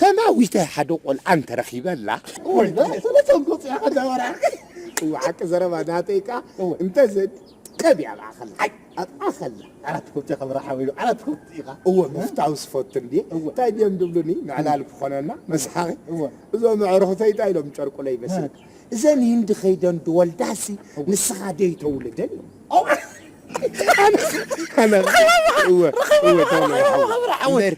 ተማዊተ ሓደ ቆልዓ እንተረኺበላ እዩ ሓቂ ዘረባ ናተይ ከ እንተዘ ቀብ ኣባኸላ ኣባኸላ ዓራት ኮብቲ ከምረሓበዩ ዓራት ኮብቲ ኢኻ እወ ምፍታው ስፈቱ እንዲ እንታይ ድዮም ድብሉኒ ንዕላል ክኾነና መስሓቂ እዞ መዕርኽተይ እንታይ ኢሎም ጨርቁለይ መስል እዘን ህንዲ ከይደን ድወልዳሲ ንስኻ ደይ ተውልደን እዩ